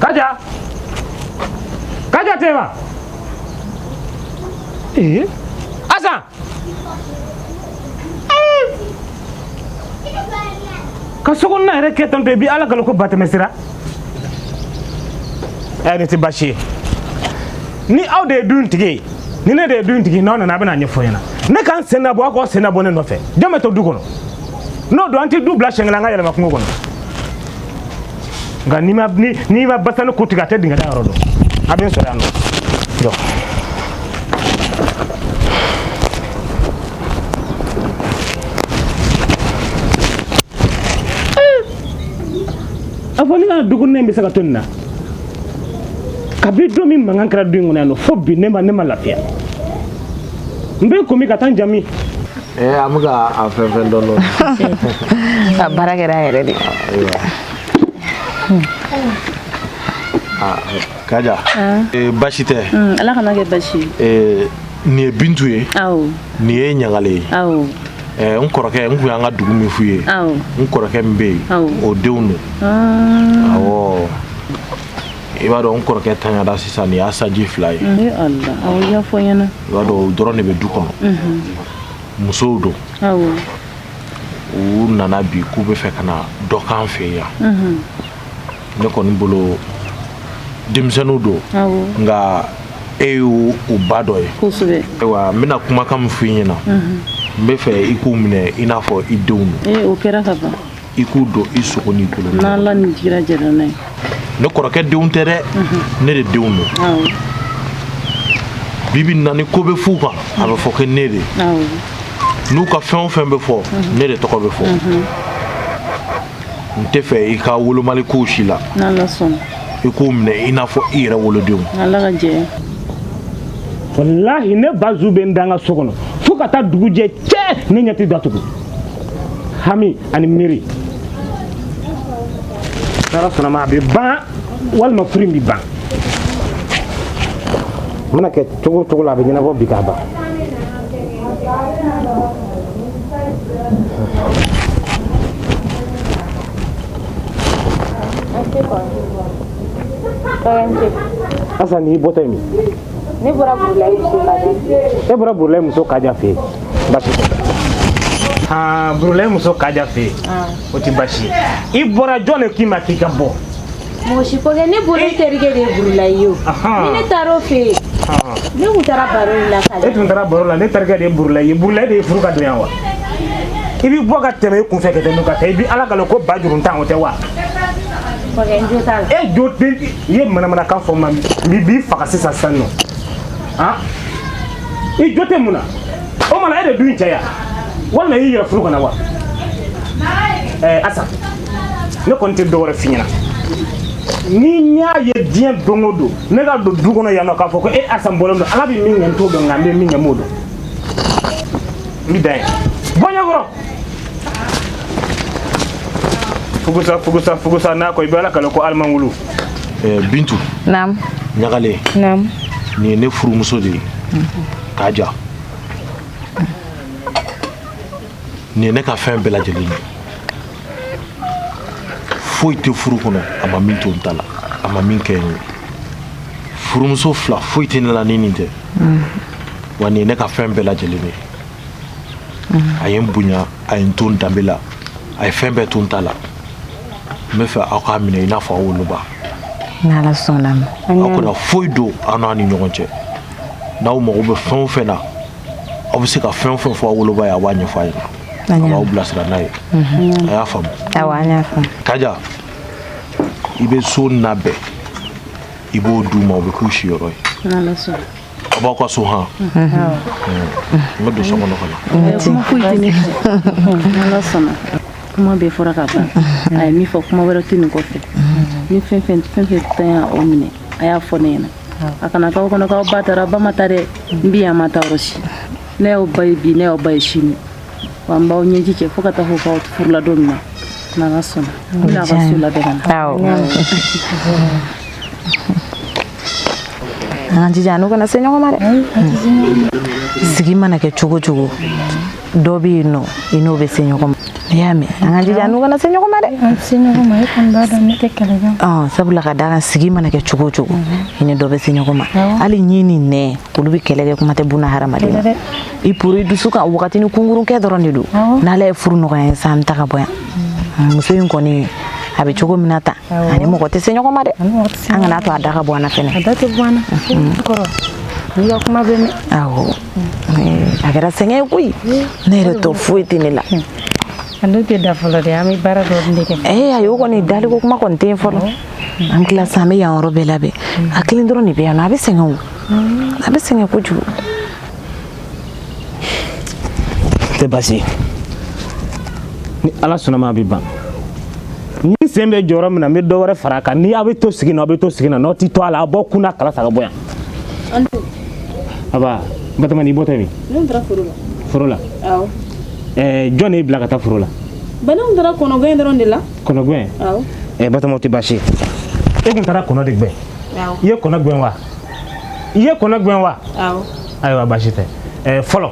Kaja, kaja tɛ wa eh? Asa ka sokɔnɔna yɛrɛkɛ tan to i bi ala kalo ko ba tɛmɛsira ɛ nin tɛ baasi ye ni aw de ye du in tigi ye ni ne de ye du in tigi n'aw nana a bɛna a ɲɛfɔ n ɲɛna ne ka n sen labɔ aw k'aw sen labɔ ne nɔfɛ jɔn bɛ to du kɔnɔ n'o don an tɛ du bila siɲɛ kelen an ka yɛlɛma kungo kɔnɔ nka n'i ma basanin ku tigɛ a tɛ dingɛ da yɔrɔ dɔn a bɛ n sɔrɔ yan nɔ jɔ. a fɔ ne ka dugunen bɛ se ka to nin na kabi don min mankan kɛra du in kɔnɔ yan nɔ fo bi ne ma lafiya n bɛ komi ka taa n jamu ee an bɛ ka a fɛn fɛn dɔn dɔn a baara kɛra yɛrɛ de kaja baasi tɛ ala kan'a kɛ baasi ye nin ye bintu ye nin ye ɲagalen ye eh, n kɔrɔkɛ n kun y'an ka dugu min f'u ye n kɔrɔkɛ min bɛ yen o denw don ah. awɔ i b'a dɔn n kɔrɔkɛ tanyara sisan nin y'a sanji fila ye i b'a dɔn o dɔrɔn de bɛ du kɔnɔ mhm. musow don u nana bi k'u bɛ fɛ ka na dɔ k'an fɛ yan mhm. ne kɔni bolo denmisɛnninw don nka e y'u ba dɔ ye ayiwa n bɛna kumakan min f'i ɲɛna n bɛ fɛ i k'u minɛ i n'a fɔ i denw i k'u don i sogo n'i bolo ne kɔrɔkɛ denw tɛ dɛ ne de denw don bi bi na ni ko bɛ f'u kan a bɛ fɔ ko ne de n'u ka fɛn o fɛn bɛ fɔ ne de tɔgɔ bɛ fɔ n tɛ fɛ i ka wolomali ko si la i k'u minɛ i n'a fɔ i yɛrɛ wolodenw walahi ne bazu bɛ n da n ka so kɔnɔ fo ka taa dugu jɛ cɛ ne ɲɛ tɛ datugu hami ani miiri n'ala sɔnn'a ma a bɛ ban walima furu in bɛ ban a mana kɛ cogo o cogo la a bɛ ɲɛnabɔ bi k'a ban Asa n'i bɔtɔ ye min ne bɔra burulayi muso kaja fɛ e bɔra burulayi muso kaja fɛ yen basi tɛ burulayi muso kaja fɛ yen o tɛ basi ye i bɔra jɔn de k'i ma k'i ka bɔ mɔgɔ si ko tɛ ne bolo eh. terikɛ de ye burulayi ye o ni ne taar'o fɛ yen ne tun taara baro de la kaja e tun taara baro la ne terikɛ de ye burulayi ye burulayi de ye furu ka don yan wa i bɛ bɔ ka tɛmɛ i kun fɛ ka tɛmɛ ka taa i bɛ ala kale ko ba juru tan o tɛ wa e jo tɛ n'i ye manamanakan fɔ ma n b'i faga sisan sisan nɔ ah i jo tɛ mun na o ma na e de don cɛ yan walima i y'i yɛrɛ furu ka na wa ɛɛ asa ne kɔni tɛ dɔwɛrɛ f'i ɲɛna ni y'a ye diɲɛ don o don ne ka don du kɔnɔ yan nɔ k'a fɔ ko e asa bɔlen don ala bɛ min kɛ n t'o dɔn nka n bɛ min kɛ n b'o dɔn n bɛ dan ye bɔ ɲɛkɔrɔ fugusa fugusa fugusa n'a kɔ i bɛ ala kale ko aliman wulu eh, bintu naam ɲagale naam nin ye ne furumuso de ye kaja nin ye ne ka fɛn bɛɛ lajɛlen ye foyi tɛ furu kɔnɔ a ma min to n ta la a ma min kɛ n ye furumuso fila foyi tɛ ne la ni nin tɛ wa nin ye ne ka fɛn bɛɛ lajɛlen ye a ye n bonya a ye n to n danbe la a ye fɛn bɛɛ to n ta la n b'a fɛ aw k'a minɛ i n'a fɔ aw woloba n'ala sɔnna ma aw kana foyi don aw n'a ni ɲɔgɔn cɛ n'aw mago bɛ fɛn o fɛn na aw bɛ se ka fɛn fɛn fɔ aw woloba ye a b'a ɲɛfɔ a ye a b'aw bilasira n'a ye a y'a faamu kaja i bɛ so labɛn i b'o d'u ma o bɛ k'u siyɔrɔ ye a b'aw ka so han n bɛ don so kɔnɔ ka na kuma bɛɛ fɔra ka ban a ye min fɔ kuma wɛrɛ tɛ nin kɔfɛ ni fɛn fɛn fɛn y'aw minɛ a y'a fɔ ne ɲɛna a kana k'aw kɔnɔ k'aw ba taara ba ma taa dɛ n bi yan ma taa yɔrɔ si ne y'aw ba ye bi ne y'aw ba ye sini wa n b'aw ɲɛji cɛ fo ka taa fɔ k'aw furula don min na n'ala sɔnna n bɛna a ka so labɛn ka na awɔ an ka jija an n'u kana se ɲɔgɔn ma dɛ sigi mana kɛ cogo cogo dɔ bɛ yen nɔ i n'o bɛ se ɲɔgɔn ma i y'a mɛn an ka jija an n'u kana se ɲɔgɔn ma dɛ an se ɲɔgɔn ma e kɔni b'a dɔn ne tɛ kɛlɛ kɛ sabula ka d'a kan sigi mana kɛ cogo o cogo mhm. i ni dɔ bɛ se ɲɔgɔn ma hali ɲin ni nɛn olu bɛ kɛlɛ kɛ kuma tɛ buna hadamaden na i poro i dusu kan wagatinin kunkurun kɛ dɔrɔn de don n'ala ye furu nɔgɔya ye san ta ka bɔ yan mhm. muso in kɔni a bɛ cogo min na tan a ni mɔgɔ tɛ se ɲɔgɔn ma dɛ an kana to a da ka bɔ an na fɛnɛ a da tɛ bɔ an na mhm. kɔrɔ n y'i ka kuma bɛɛ mɛn awɔ a kɛra sɛgɛn ye koyi ne yɛrɛ tɔ foyi tɛ ne la an dun tɛ da fɔlɔ dɛ an bɛ baara dɔ de kɛ ee a y'o kɔni daliko kuma kɔni tɛ fɔlɔ an tila sisan an bɛ yan yɔrɔ bɛɛ labɛn a kelen dɔrɔn de bɛ yan nɔ a bɛ sɛgɛn o a bɛ sɛgɛn kojugu tɛ baasi ye ni ala sɔnna a ma a bɛ ban n'i sen bɛ jɔ yɔrɔ min na n bɛ dɔ wɛrɛ fara a kan ni aw bɛ to sigi na aw bɛ to sigi na n'aw tɛ to a la aw b'aw kun na kala ta ka bɔ yan a ba batoma i bɔtɔ min ne taara foro la foro la awɔ ɛɛ jɔn y'i bila ka taa foro la bawo n taara kɔnɔgɛn dɔrɔn de la kɔnɔgɛn awɔ ɛɛ batoma o tɛ baasi ye e kun taara kɔnɔ de gɛn awɔ i ye kɔnɔ gɛn wa i ye kɔnɔ gɛn wa awɔ ayiwa baasi tɛ ɛɛ fɔlɔ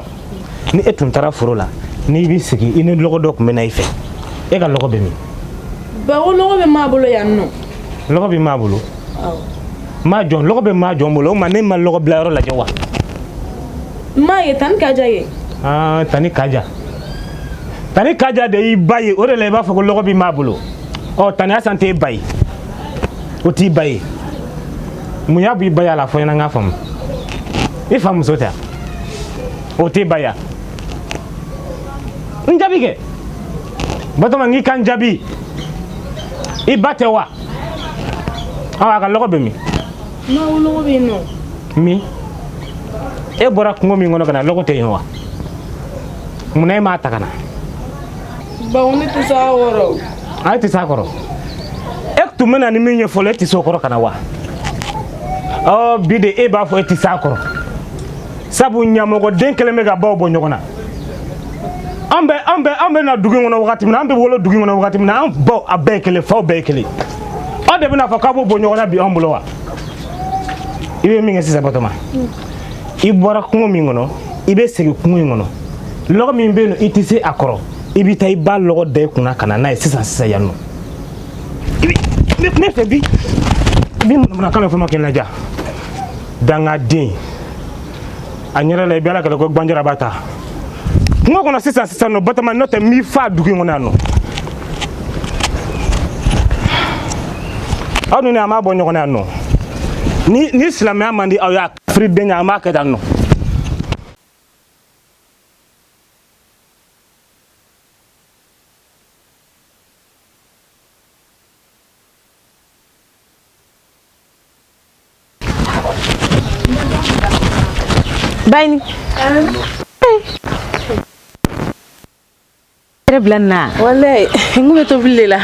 ni e tun taara foro la n'i bɛ segin i ni lɔgɔ dɔ tun bɛ na i fɛ e ka lɔgɔ bɛ min bawo lɔgɔ bɛ maa bolo yan nɔ lɔgɔ bɛ maa bolo awɔ maa jɔn lɔgɔ bɛ maa jɔn bolo o ma ne ma lɔgɔ bila yɔrɔ lajɛ wa maa ye tani kaja ye aa tani kaja tani kaja de y'i ba ye o de la i b'a fɔ ko lɔgɔ bɛ maa bolo ɔ tani asan t'e ba ye o t'i ba ye mun y'a bɔ i baya la a fɔ n ɲɛna n k'a faamu i fa muso tɛ wa o t'i ba ye wa n jaabi kɛ batoma n k'i ka n jaabi i ba tɛ wa awa a ka lɔgɔ bɛ min bawo lɔgɔ bɛ yen nɔ min e bɔra kungo min kɔnɔ ka na lɔgɔ tɛ yen wa munna e m'a ta ka na bawo ne tɛ s'a kɔrɔ a tɛ s'a kɔrɔ e tun bɛ na ni min ye fɔlɔ e tɛ s'o kɔrɔ ka na wa ɔ bi de e b'a fɔ e tɛ s'a kɔrɔ sabu ɲamɔgɔden kɛlen bɛ ka baw bɔ ɲɔgɔn na an bɛ an bɛ an bɛ na dugu in kɔnɔ wagati min na an bɛ wolo dugu in kɔnɔ wagati min na an baw a bɛɛ ye kelen faw bɛɛ ye kelen aw de bɛn'a fɔ k'aw b'u bɔ ɲɔgɔn na bi an bolo wa i bɛ min kɛ sisan batoma i bɔra kungo min kɔnɔ i bɛ segin kungo in kɔnɔ lɔgɔ min bɛ yen nɔ i tɛ se a kɔrɔ i bɛ taa i b'a lɔgɔ da i kun na ka na n'a ye sisan sisan yan nɔ ne fɛ bi bi manamanakan bɛ fɔ ma kɛ n la jaa dangaden a ɲɛrɛ la i bɛ ala kɛlɛ ko gbanjara b'a ta kungo kɔnɔ sisan sisan nɔ batoma n'o tɛ n b'i fa dugu in kɔnɔ yan nɔ aw ni ne an b'a bɔ ɲɔgɔn na yan nɔ ni ni silamɛya man di aw ye kafiridenya an b'a kɛ tan nɔ Bayini. Yɛrɛ bila nin na. Walayi n kun bɛ tobili de la.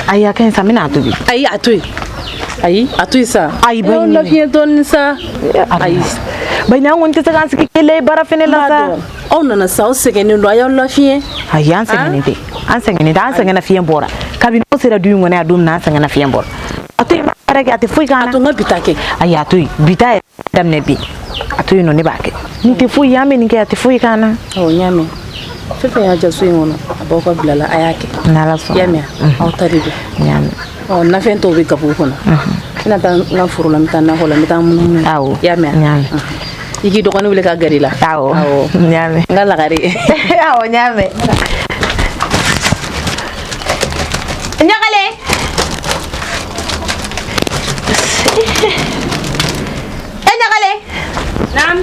Ayi a ka ɲi sa n bɛna a tobi. Ayi a to yen. Ayi a to yen sa. Ayi a b'aw lafiɲɛ dɔɔnin sa. Ayi. Bayini an kɔni tɛ se k'an sigi k'e lajɛ baara fana la sa. aw nana sa aw sɛgɛnnen don a y'aw lafiɲɛ ayi an sɛgɛnnen tɛ an sɛgɛnnen tɛ an sɛgɛnnafiɲɛ bɔra kabini aw sera du in kɔnɔ a don min na an sɛgɛnnafiɲɛ bɔra a to yen baara kɛ a tɛ foyi k'an na a to n ka bi ta kɛ ayi a to yen bi ta yɛrɛ daminɛ bi a to yen nɔ ne b'a kɛ nin tɛ foyi ye an bɛ nin kɛ a tɛ foyi k'an na awɔ n y'a mɛn fɛn fɛn y'a diya so in kɔnɔ a b'aw ka bila la a y'a kɛ n'ala sɔnna i y'a mɛn a aw ta de don n y'a mɛn ɔ nafɛn tɔw bɛ gabugu kɔnɔ n bɛna taa n ka foro la n bɛ taa nakɔ la n bɛ taa munumunu awɔ i y'a mɛn n y'a mɛn i k'i dɔgɔnin wele k'a gɛrɛ i la awɔ n y'a mɛn n ka lagare awɔ n y'a mɛn ɲagale e ɲagale naam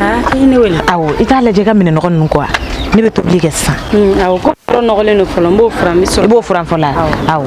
aa i ye ne wele awɔ i t'a lajɛ i ka minɛn nɔgɔ ninnu ko wa ne bɛ tobili kɛ sisan awɔ Yɔrɔ nɔgɔlen don fɔlɔ n b'o furan n bɛ sɔrɔ i b'o furan fɔlɔ awɔ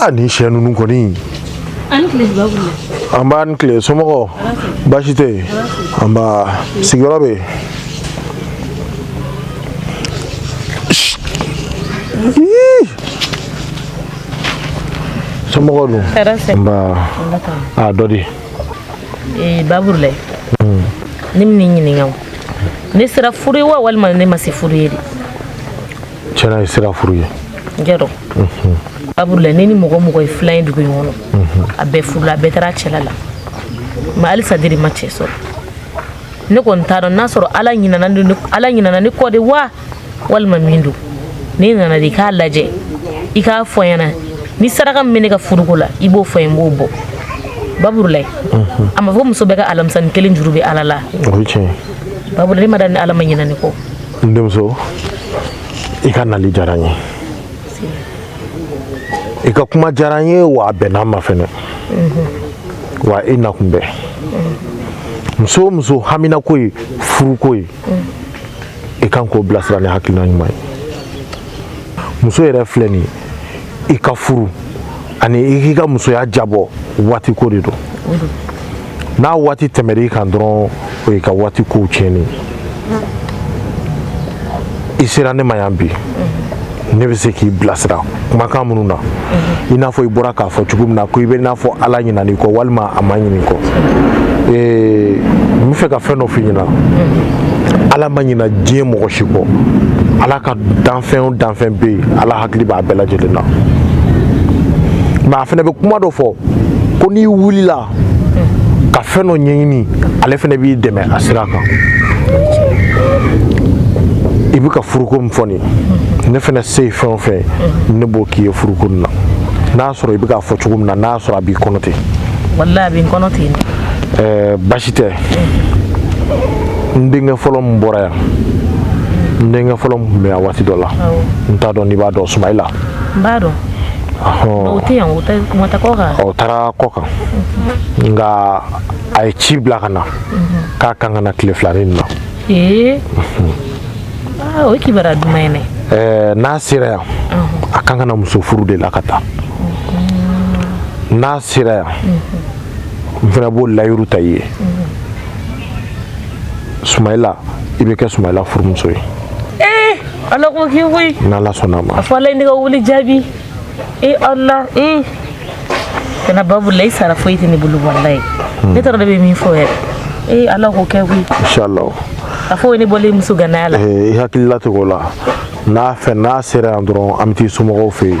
a ni ce ninnu kɔni nba i ni tile somɔgɔ baasi tɛ yen nba sigiyɔrɔ bɛ yen somɔgɔ don nba a dɔ di baburulayi hmm. ne bɛ nin ɲininka ne sera furu ye wa walima ne ma se furu ye de tiɲɛ na e sera furu ye jɛrɔ baburulayi ne ni mɔgɔ mɔgɔ ye filan ye dugu in kɔnɔ a bɛɛ furula a bɛɛ taara cɛla la mɛ halisa ne de ma cɛ sɔrɔ ne kɔni t'a dɔn n'a sɔrɔ ala ɲinana ne ala ɲinana ne kɔ de wa walima min don ne nana de i k'a lajɛ i k'a fɔ n ɲɛna ni saraka min bɛ ne ka furuko la i b'o fɔ n ye n b'o bɔ baburulayi a ma fɔ muso bɛɛ ka alamisa kelen juru bɛ ala la baburulayi ne m'a dɔn ni ala ma ɲina ne kɔ n denmuso i ka nali diyara n ye i ka kuma diyara n ye wa a bɛnna n ma fɛnɛ wa i nakun bɛ muso o muso haminanko ye furuko ye i kan k'o bilasira ni hakilina ɲuman ye muso yɛrɛ filɛ nin ye i ka furu ani i k'i ka musoya diyabɔ waati ko de don n'a waati tɛmɛr'i kan dɔrɔn o y'i ka waati kow tiɲɛni i sera ne ma yan bi ne bɛ se k'i bilasira kumakan minnu na i n'a fɔ i bɔra k'a fɔ cogo min na ko i bɛ n'a fɔ ala ɲinan'i kɔ walima a ma ɲin'i kɔ ee n bɛ fɛ ka fɛn dɔ f'i ɲɛna ala ma ɲina diɲɛ mɔgɔ si kɔ ala ka danfɛn o danfɛn bɛ yen ala hakili b'a bɛɛ lajɛlen na mɛ a fana bɛ kuma dɔ fɔ ko n'i wulila ka fɛn dɔ ɲɛɲini ale fana b'i dɛmɛ a sira kan i bɛ ka furuko min fɔ nin ne fana se ye fɛn o fɛn ne b'o k'i ye furuko nin na n'a sɔrɔ i bɛ k'a fɔ cogo min na n'a sɔrɔ a b'i kɔnɔ ten walahi a bɛ n kɔnɔ ten eh, basi tɛ n denkɛ fɔlɔ min bɔra yan n denkɛ fɔlɔ min tun bɛ yan waati dɔ la n t'a dɔn n'i b'a dɔn sumayila n b'a dɔn o tɛ yan o taa kɔkan o taara kɔkan nka a ye ci bila ka na mhm. k'a kan ka na tile fila nin na ee mhm. ah, o ye kibaruya duman ye dɛ eh, n'a sera yan mhm. a kan ka na muso furu de la ka taa n'a sera yan n fana b'o layiru ta i ye sumayila i bɛ kɛ sumayila furumuso ye ee ala k'o kɛ koyi n'ala sɔnna a ma a fɔ ala ye ne ka wuli jaabi ee ala ee kana babu la i sara foyi tɛ ne bolo walayi hmm. ne t'a dɔn ne bɛ min fɔ yɛrɛ ee ala k'o kɛ koyi inshallah a fɔ o ye ne bɔlen muso gannaya la eh, i hakili latigɛ o la n'a fɛ n'a sera yan dɔrɔn an bɛ t'i somɔgɔw fɛ yen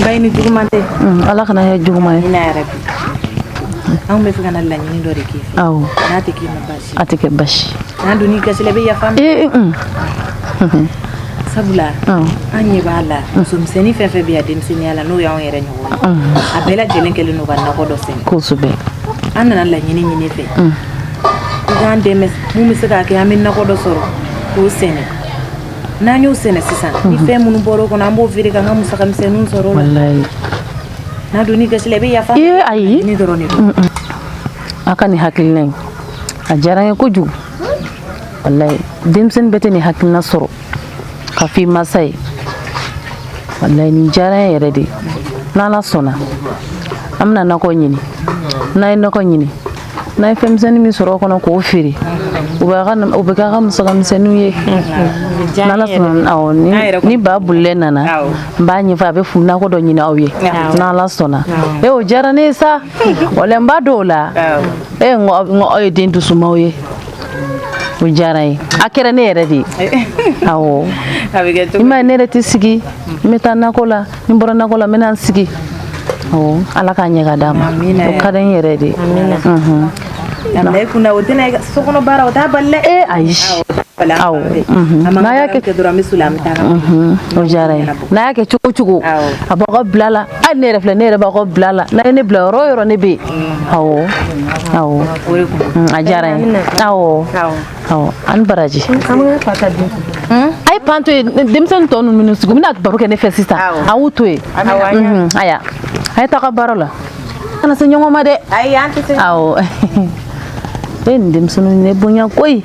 mbayi ni juguman tɛ Mm, ala kana kɛ juguman ye amiina yarabi anw bɛ fɛ ka na laɲini dɔ de k'i fɛ awɔ n'a tɛ k'i ma baasi a tɛ kɛ basi n'a donn'i gasi la i bɛ yafa an ma ee mm, sabula awɔ an ɲɛ b'a la musomisɛnnin fɛn fɛn bɛ yan denmisɛnninya la n'o y'anw yɛrɛ ɲɔgɔn ye Mhm. a bɛɛ lajɛlen kɛlen don ka nakɔ dɔ sɛnɛ kosɛbɛ an nana laɲini ɲin'i fɛ i k'an dɛmɛ mun bɛ se k'a kɛ an bɛ nakɔ dɔ sɔrɔ k'o sɛnɛ n'an y'o sɛnɛ sisan ni fɛn minnu bɔra o kɔnɔ an b'o feere k'an ka musaka misɛnninw sɔrɔ o la walayi n'a donn'i gasi la i bɛ yafa ee ayi nin dɔrɔn de don a ka nin hakilina in a diyara n ye kojugu walayi denmisɛnnin bɛɛ tɛ nin hakilina sɔrɔ k'a f'i masa ye walayi nin diyara n ye yɛrɛ de n'ala sɔnna an bɛna nakɔ ɲini n'an ye nakɔ ɲini n'a ye fɛnmisɛnnin min sɔrɔ o kɔnɔ k'o feere u b'a ka nam- o bɛ k'a ka musakamisɛnninw ye n'ala sɔnna awɔ, ni ba bolilɛ nana Awɔ. n b'a ɲɛfɔ a bɛ fu nakɔ dɔ ɲini aw ye Awɔ. n'ala sɔnna e o diyara ne ye sa wala n b'a dɔw la Awɔ. e n ko aw- n ko aw ye den dusumaw ye o diyara n ye a kɛra ne yɛrɛ de ye awɔ i m'a ye ne yɛrɛ tɛ sigi n bɛ taa nakɔ la ni n bɔra nakɔ la n bɛna n sigi awɔ ala k'a ɲɛ ka d'a ma o ka di n yɛrɛ de ye kunna o tɛna so kɔnɔ baara o t'a bali dɛ ee ayi awɔ n'a y'a kɛ dɔrɔn an bɛ soli an bɛ taa o diyara n ye n'a y'a kɛ cogo cogo a b'aw ka bila la hali ne yɛrɛ filɛ ne yɛrɛ b'aw ka bila la n'a ye ne bila yɔrɔ yɔrɔ ne bɛ yen awɔ awɔ a diyara n ye awɔ awɔ a ni baraji a ye pan to ye denmisɛnnin tɔ ninnu minnu sigi bɛna baro kɛ ne fɛ sisan a y'u to yen aya a ye taga baara la kana se ɲɔgɔn ma dɛ awɔ e n denmisɛnninw ne bonya koyi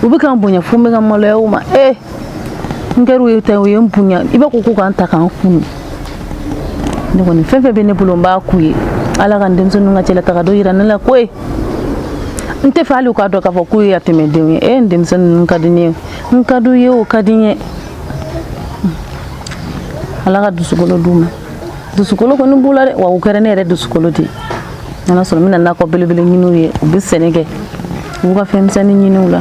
u bɛ ka n bonya fo n bɛ ka maloya u ma ee n kɛra u ye ta u ye n bonya i b'a ko k'u ka n ta ka n kunu ne kɔni fɛn fɛn bɛ ne bolo n b'a k'u ye ala ka n denmisɛnninw ka cɛlataga dɔ yira ne la koyi n tɛ fɛ hali u k'a dɔn k'a fɔ k'u ye yatimɛdenw ye e n denmisɛnninw ka di ne ye n ka d'u ye o ka di n ye ala ka dusukolo d'u ma dusukolo kɔni b'u la dɛ wa u kɛra ne yɛrɛ dusukolo de ye n'ala sɔnna n bɛna nakɔ belebele ɲini u ye u bɛ sɛnɛ kɛ u b'u ka fɛn misɛnnin ɲini u la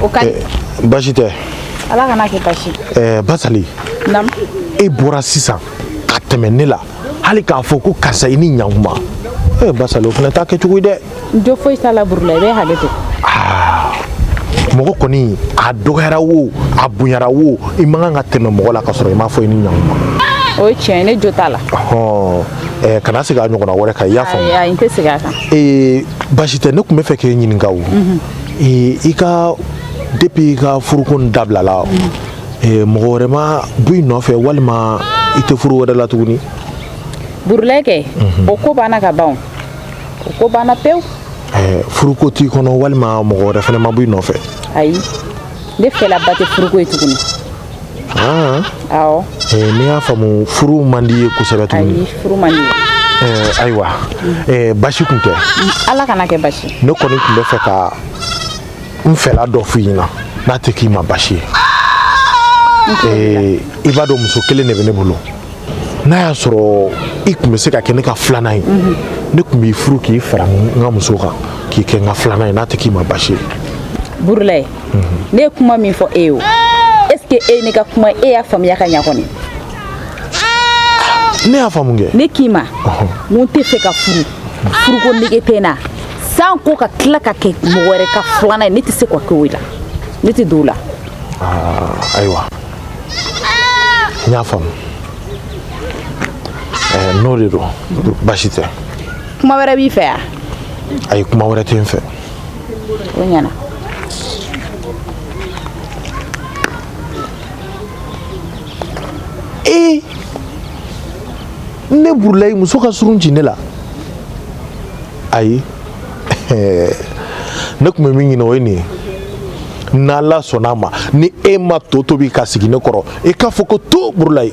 o ka eh, basi tɛ ala kana kɛ basi eh, basali e bɔra sisan ka tɛmɛ ne la hali k'a fɔ ko karisa i ni ɲankuma e eh, basali o fana t'a kɛcogo ye dɛ jo foyi t'a la burula i bɛ hakɛ to ah, mɔgɔ kɔni a dɔgɔyara wo a bonyara wo i man kan ka tɛmɛ mɔgɔ la ka sɔrɔ i m'a fɔ i ni ɲankuma o ye tiɲɛ ye ne jo t'a la kana segin a ɲɔgɔnna wɛrɛ kan i y'a faamu ayi n tɛ segin a kan ee basi tɛ ne tun bɛ fɛ k'e ɲininka o mhm. ee i ka depuis i ka furuko nin dabilala mhm. ee mɔgɔ wɛrɛ ma bɔ i nɔfɛ walima i tɛ furu wɛrɛ la tuguni burula kɛ mhm. o ko banna ka ban o ko banna pewu ɛɛ furuko t'i kɔnɔ walima mɔgɔ wɛrɛ fana ma bɔ i nɔfɛ ayi ne fɛla ba tɛ furuko ye tuguni ne y'a faamu furu man d'i ye kosɛbɛ tuguni ayiwa basi tun tɛ ala kana kɛ basi ne kɔni tun bɛ fɛ ka n fɛla dɔ f'i ɲɛna n'a tɛ k'i ma basi ye i b'a dɔn muso kelen de bɛ ne bolo n'a y'a sɔrɔ i tun bɛ se ka kɛ ne ka filanan ye mhm. ne tun b'i furu k'i fara n ka muso kan k'i kɛ n ka filanan ye n'a tɛ k'i ma basi ye burulayi ne ye kuma min fɔ e ye o est ce que e ye ne ka kuma e y'a faamuya ka ɲa kɔni ne y'a faamu kɛ ne k'i ma n tɛ fɛ ka furu furuko nege tɛ n na sanko ka tila ka kɛ mɔgɔ wɛrɛ ka filanan ye ne tɛ se ka kɛ o la ne tɛ don o la ayiwa n y'a faamu n'o de don baasi tɛ kuma wɛrɛ b'i fɛ wa ayi kuma wɛrɛ tɛ n fɛ o ɲɛna ee ne burulayi muso ka surun ci ne la ayi ne tun bɛ min ɲini o ye nin ye n'ala sɔnna a ma ni e ma to tobi ka sigi ne kɔrɔ e k'a fɔ ko to burulayi